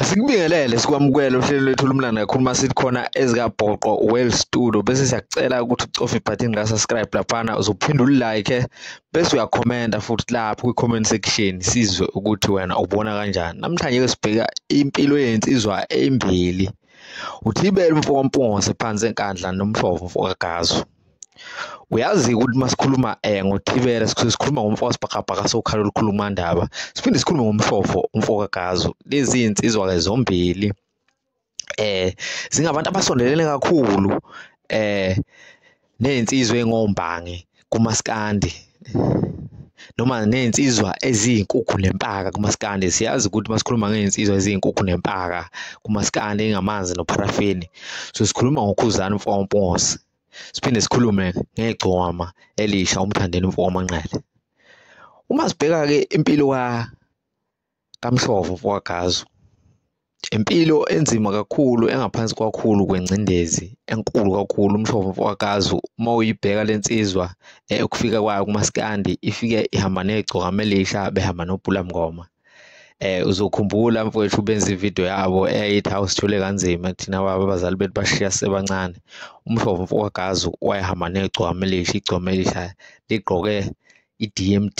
Asikubingelele sikwamukele uhlelo lwethu olumlanda kakhulu uma sithi khona ezikabhoqo well studio bese siyakucela ukuthi ucofe ibhathini la subscribe laphana uzophinde ulike bese uyakhomenta futhi lapho kwi comment section sizwe ukuthi wena ubona kanjani namhlanje ke sibheka impilo yensizwa embili uthibele umfoka mpunga sephansi enkandla nomhlovo mfoka gazo uyazi ukuthi masikhuluma eh ngothibela sisuke sikhuluma ngomfo wasibhakabhaka sokhala olukhuluma ndaba siphinde sikhulume ngomfofo umfo kagazo lezi insizwa ke zombili eh zingabantu abasondelene kakhulu eh nezinsizwe engombangi kumaskandi noma ney'nsizwa eziyinkukhu nempaka kumaskandi siyazi ukuthi uma sikhuluma ngey'nsizwa eziyinkukhu nempaka kumaskandi engamanzi nopharafini so sikhuluma ngokhuzani mfompose siphinde sikhulume ngegcoma elisha umthandeni mfomanqele uma sibheka-ke impilo kaMhlovo mfowagazu impilo enzima kakhulu engaphansi kwakhulu kwengcindezi enkulu kakhulu umhlobo mfowakazi uma uyibheka le nsizwa eh, ukufika kwayo kumaskandi ifike ihamba negcoka melisha behamba nobhula mngoma eh uzokhumbula mfowethu benza ivideo yabo eyayithi awusithole kanzima kuthina baba abazali bethu bashiya sebancane umhlobo mfowakazi wayehamba negcoka melisha igcoka melisha ligqoke i-DMD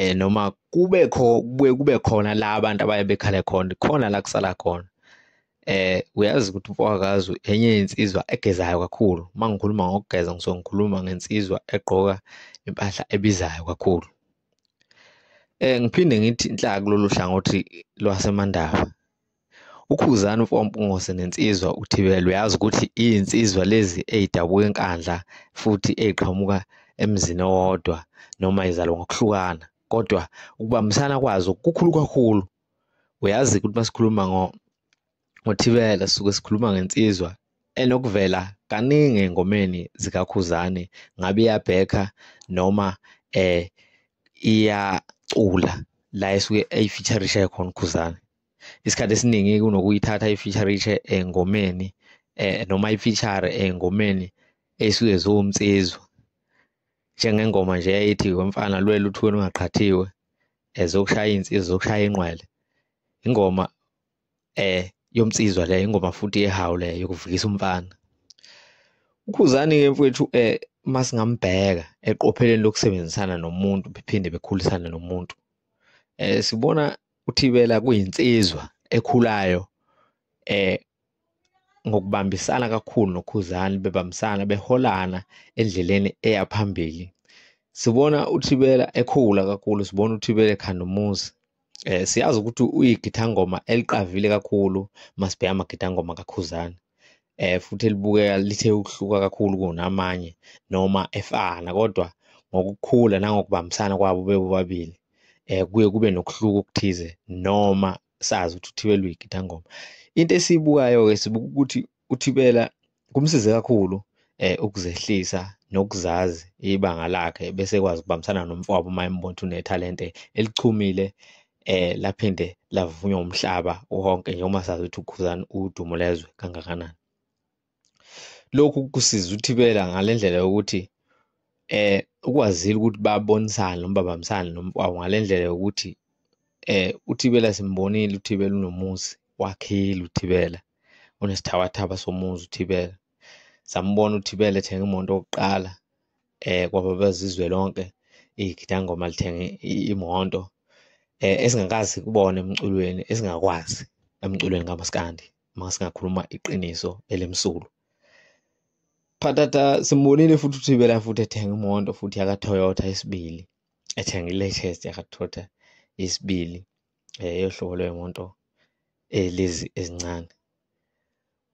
eh noma kube kho kubuye kube khona la abantu abaye bekhale khona khona la kusala khona eh uyazi ukuthi umfowakazi enye insizwa egezayo kakhulu uma ngikhuluma ngokugeza ngisuke ngikhuluma ngensizwa egqoka impahla ebizayo kakhulu eh ngiphinde ngithi inhlaka kulolu hlangothi lwasemandaba Ukhuzani uMfowampungosi nensizwa uThibela uyazi ukuthi iyinsizwa lezi eyidabuka enkandla futhi eyiqhamuka emzini owodwa noma izalwa ngokuhlukana kodwa ukubambisana kwazo kukhulu kakhulu uyazi ukuthi masikhuluma ngo ngothibela suke sikhuluma ngensizwa enokuvela kaningi engomeni zikakhuzani ngabe iyabhekha noma eh iyacula la esuke eyifeaturishe khona ukhuzani isikhathi esiningi kunokuyithatha i-feature engomeni eh noma i-feature engomeni esuke ziwumnsizwa njengengoma nje ethi wemfana lwela uthweni ungaqhathiwe ezokushaya insizwa zokushaya inqwele ingoma eh yomnsizwa le ingoma futhi ehawu le yokuvukisa umfana ukhuzani ke mfowethu eh masingambheka eqopheleni lokusebenzisana nomuntu bephinde bekhulisane nomuntu eh sibona UThibela kuyinsizwa ekhulayo eh ngokubambisana kakhulu noKhuzani bebambisana beholana endleleni eya phambili sibona uThibela ekhula kakhulu sibona uThibela ekhanda umuzi eh siyazi ukuthi uyigithangoma eliqavile kakhulu masibheka amagithangoma kaKhuzani eh futhi elibukeka lithe ukuhluka kakhulu kunamanye noma efana kodwa ngokukhula nangokubambisana kwabo bebobabili eh kuye kube nokuhluka okuthize noma sazi ukuthi uthibela uyigidangoma into esiyibukayo-ke sibuka ukuthi uthibela kumsize kakhulu eh ukuzehlisa nokuzazi ibanga lakhe bese ekwazi ukubambisana nomfowabo uma embona ukuthi unethalente elichumile eh laphinde lavunywa umhlaba wonke njengoba sazi ukuthi ukhuzani udumo lezwe kangakanani lokhu kusiza uthibela ngalendlela yokuthi eh ukwazile ukuthi babonisane noma babambisane nomfowabo ngalendlela yokuthi eh uthibela simbonile uthibela unomuzi wakhile uthibela unesithabathaba somuzi uthibela sambona uthibela ethenga imoto yokuqala eh kwaba bezizwe lonke igidangoma lithenga i- imoto eh esingakazi kubona emculweni esingakwazi emculweni kamaskandi uma singakhuluma iqiniso elimsulu phathatha simbonile futhi uthibela futhi ethenga imoto futhi yaka-toyota isibili ethenga i-latest yaka-toyota isibili eh yohlobo lwemoto eh, lezi ezincane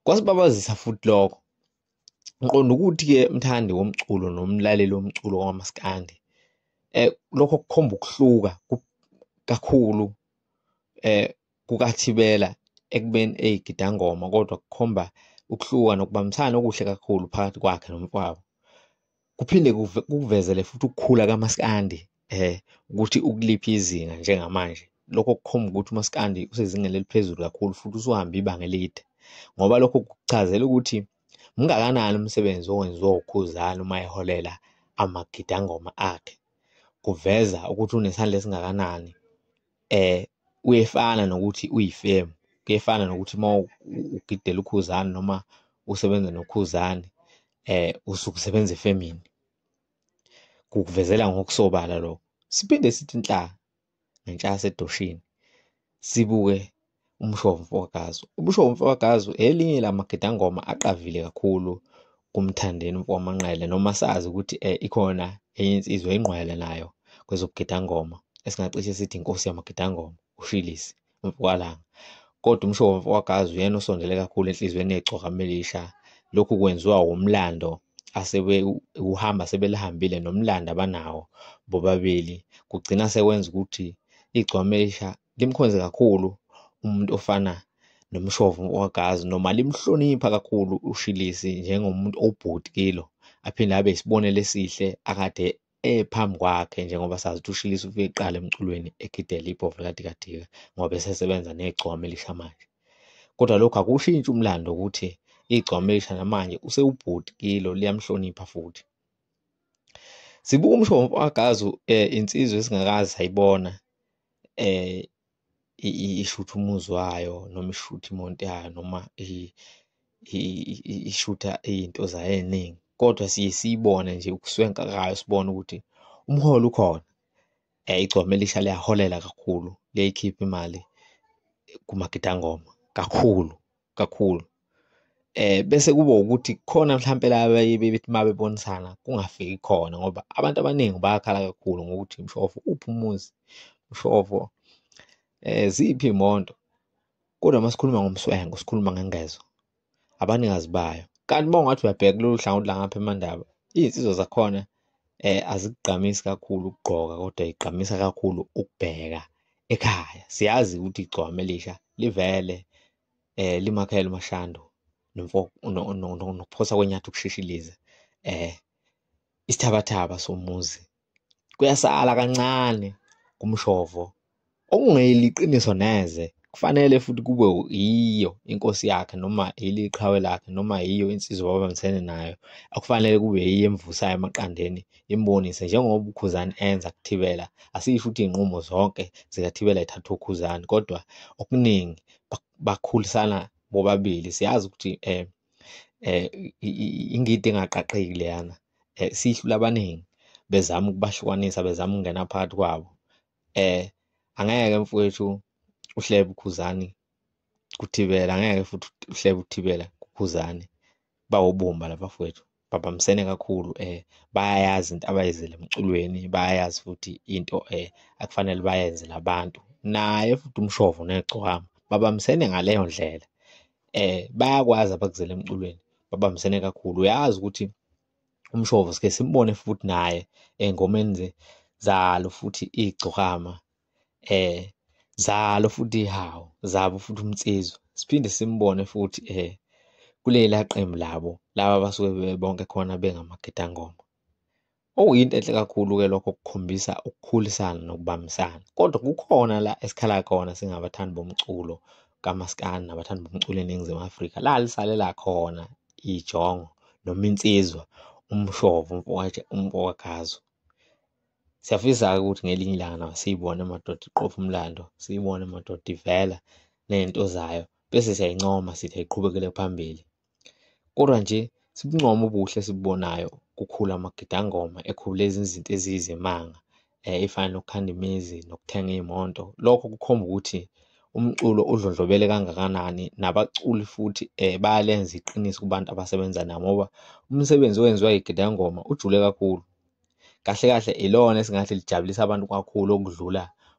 kwasibabazisa futhi lokho ngiqonda ukuthi-ke mthandi womculo nomlaleli womculo wamaskandi eh lokho kukhomba ukuhluka kakhulu eh kukathibela ekubeni eyigidangoma kodwa kukhomba ukuhluka nokubambisana okuhle kakhulu phakathi kwakhe nomfowabo kuphinde kukuvezele futhi ukukhula kamaskandi eh ukuthi ukuliphi izinga njengamanje lokho kukhomba ukuthi umaskandi usezingeni eliphezulu kakhulu futhi usuhambe ibanga elide ngoba lokho kuchazela ukuthi mngakanani umsebenzi owenziwa ukhuzani uma eholela amagidangoma akhe kuveza ukuthi unesandla esingakanani eh kuyefana nokuthi uyifemu kuyefana nokuthi uma ugidela ukhuzani noma usebenza nokhuzani eh usuke usebenza efemini kukuvezela ngokusobala lo siphinde sithi inhlaka ngentsha yasedoshini sibuke umshovo mfokagazu umshovo mfokagazu elinye lamagidangoma aqavile kakhulu kumthandeni mfokamanqele noma sazi ukuthi eh, ikhona enye insizwa ingqwele nayo kwezobugidangoma esingacishe sithi inkosi yamagidangoma ushilisi umfokalanga kodwa umshovo mfokagazu uyena osondele kakhulu enhliziyweni yegcokamelisha lokhu kwenziwa wumlando asebewuhamba sebelihambile nomlando abanawo bobabili kugcina sekwenza ukuthi igcwamelisha limkhonze kakhulu umuntu ofana nomshovu wagazi noma limhlonipha kakhulu ushilisi njengomuntu obhuti kilo aphinde abe isibonelo esihle akade ephambi kwakhe njengoba sazi ukuthi ushilisi ufike kuqala emculweni egidela ibhovu likadikadika ngoba esesebenza negcwama elisha manje kodwa lokhu akushintshi umlando ukuthi igcwama elisha namanje usewubhuti kilo liyamhlonipha futhi sibuka umshovu wagazi um insizwa esingakazi sayibona eh i- i- ishutha umuzi wayo noma ishutha imonto yayo noma i- i- i- i- ishutha izinto zayo eziningi kodwa siye siyibone nje ukuswenka kayo sibone ukuthi umholi ukhona eh igcome lisha liyaholela kakhulu liyayikhipha imali kumagidangoma kakhulu kakhulu eh bese kuba ukuthi khona mhlawumbe la bebethi uma bebonisana kungafiki khona ngoba abantu abaningi bayakhala kakhulu ngokuthi mshofo uphi umuzi mshofo eh ziphi imoto kodwa uma sikhuluma ngomswengo sikhuluma ngengezo abaningazi bayo kanti uma ungathi uyabheka kulolu hlangothi langapha emandaba izinsizwa zakhona eh azikugqamisi kakhulu ukugqoka kodwa igqamisa kakhulu ukubheka ekhaya siyazi ukuthi igcwame lisha livele eh limakhele umashando nomfo nokuphosa kwenyatha ukushishiliza eh isithabathaba somuzi kuyasala kancane kumshovo okungeyiliqiniso neze kufanele futhi kube yiyo inkosi yakhe noma yilo iqhawe lakhe noma yiyo insizwa ababambisene nayo akufanele kube yiyo emvusayo emaqandeni imbonise njengoba ukhuzani enza kuthibela asisho ukuthi iy'nqumo zonke zikathibela ithathwa ukhuzani kodwa okuningi bakhulisana bobabili siyazi ukuthi um um ingidi engaqaqeki leyana um siyihlula abaningi bezama ukubahlukanisa bezama ukungena phakathi kwabo eh angeke mfowethu uhlebe ukhuzani kuthibela angeke futhi uhlebe uthibela kukhuzani bawobumba laba fowethu babambisene kakhulu eh bayayazi into abayizile emculweni bayayazi futhi into eh akufanele bayenze labantu naye futhi umshovo negcwama babambisene ngaleyo ndlela eh bayakwazi abakuzele emculweni babambisene kakhulu uyazi ukuthi umshovo sike simbone futhi naye engomeni nje zalo futhi igcokama eh zalo futhi hawo zabo futhi umtsizwa siphinde simbone futhi eh kulela qembu labo laba basuke bebonke khona bengamagidangoma okuyinto enhle kakhulu-ke lokho kukhombisa ukukhulisana nokubambisana kodwa kukhona la esikhala khona singabathandi bomculo kamaskandi nabathandi bomculo eningizimu afrika la lisalela khona ijongo noma insizwa umshovo umfowakazo siyafisa-ke ukuthi ngelinye ilanga nawo siyibone madoda iqopha umlando siyibone madoda ivela ney'nto zayo bese siyayincoma sithi ayiqhubekele phambili Kodwa nje sibuncoma ubuhle esibubonayo kukhula amagidangoma ekhula izinto eziyizimanga um ey'fana nokukhanda imizi nokuthenga iy'moto. Lokho kukhomba ukuthi umculo udlondlobele kangakanani nabaculi futhi um bayalenza iqiniso kubantu abasebenza nabo ngoba umsebenzi owenziwa yigidangoma ujule kakhulu. Kahle kahle ilona esingathi lijabulisa abantu kakhulu okudlula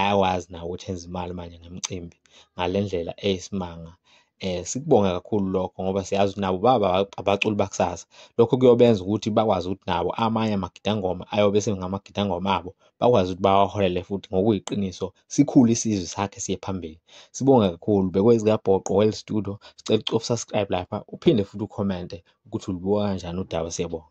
ayakwazi nawo ukuthi enze imali manje ngemicimbi ngale ndlela eyisimanga eh sikubonga kakhulu lokho ngoba siyazi ukuthi nabo baba abaculi bakusasa lokho kuyobenza ukuthi bakwazi ukuthi nabo amanye amagidangoma ayobe sengamagidangoma abo bakwazi ukuthi bawaholele futhi ngokuyiqiniso sikhule isizwe sakhe siye phambili sibonge kakhulu bekwezikabhoqo well studio sicela ukusubscribe lapha uphinde futhi ucommente ukuthi ulibuka kanjani udaba siyabonga